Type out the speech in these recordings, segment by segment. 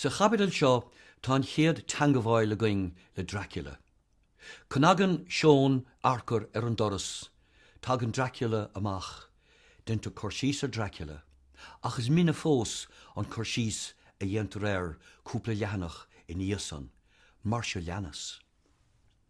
Sa chaibidil seo tá an chéad teangabháil againn le Dracula. Cnagann Seon Earcair ar an doras, tagann Dracula amach, deintear cur síos ar Dracula, ach is mine fós an cur síos a dhéantar air cúpla leathanach ina dhiaidh san, mar seo leanas.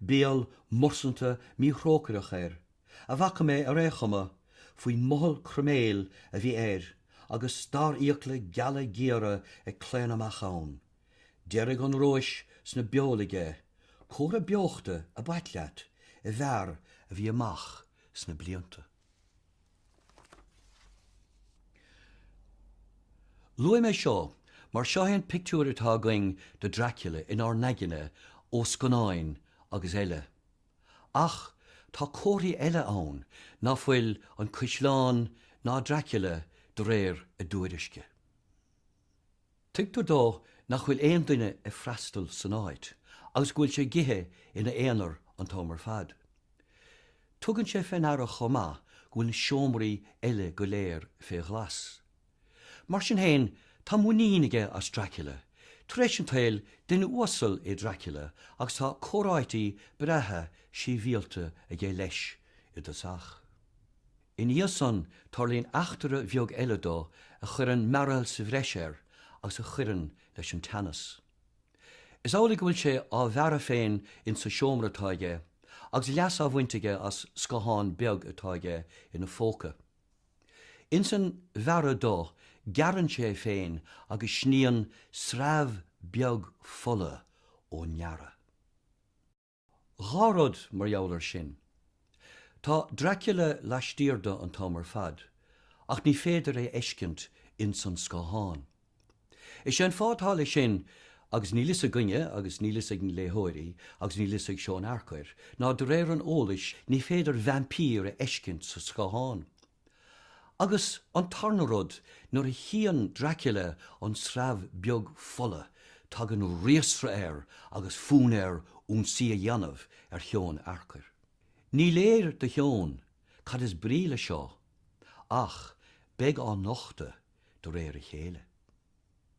Béal mursanta míthrócaireach air a bhfaca mé ar ao' chuma, faoin mothall croiméil a bhí air agus starrfhiacla geala géara ag claonadh amach ann. Deirge an róis sna beoil aige, comhartha beochta ab ait leat i bhfear a bhí amach sna blianta. Luaim é seo mar seo é an pictiúir atá againn de Dracula inár n-aigne ó scannáin agus eile. Ach tá comharthaí eile ann ná fuil an caisleán ná Dracula de réir a dtuairisce. Tuigtear dó nach bhfuil aon duine ag freastal san áit agus go bhfuil sé ag ithe ina aonar an t-am ar fad. Tugann sé fé ndeara chomh maith go bhfuil na seomraí eile go léir fé ghlas. Mar sin féin, tá muinín aige as Dracula. Tar éis an tsaoil, duine uasal é Dracula agus tá comhráití breátha sibhialta aige leis i dtosach. Ina dhiaidh san, tarlaíonn eachtra bheag eile dó a chuireann mearbhall sa bhreis air agus a chuireann leis an teannas. Is amhlaidh go bhfuil sé á bhearradh féin insa seomra atá aige agus leas á bhaint aige as scáthán beag atá aige ina phóca. Ins an bhearradh dó, gearrann sé é féin agus sníonn sreabh beag fola ón ngearradh. Dhá rud mar gheall ar sin. Tá Dracula laistiar de an t-am ar fad, ach ní féidir é fheiscint ins an scáthán. Is é an fáth atá leis sin, agus níl fhios againne agus níl fhios ag na léitheoirí agus níl fhios ag Seon Earcair, ná de réir an eolais ní féidir vaimpír a fheiscint sa scáthán. Agus an tarna rud, nuair a chíonn Dracula an sreabh beag fola tagann riastradh air agus fonn air ionsaí a dhéanamh ar Sheon Earcair. Ní léir do Sheon cad is brí leis seo ach beidh á nochtadh de réir a chéile.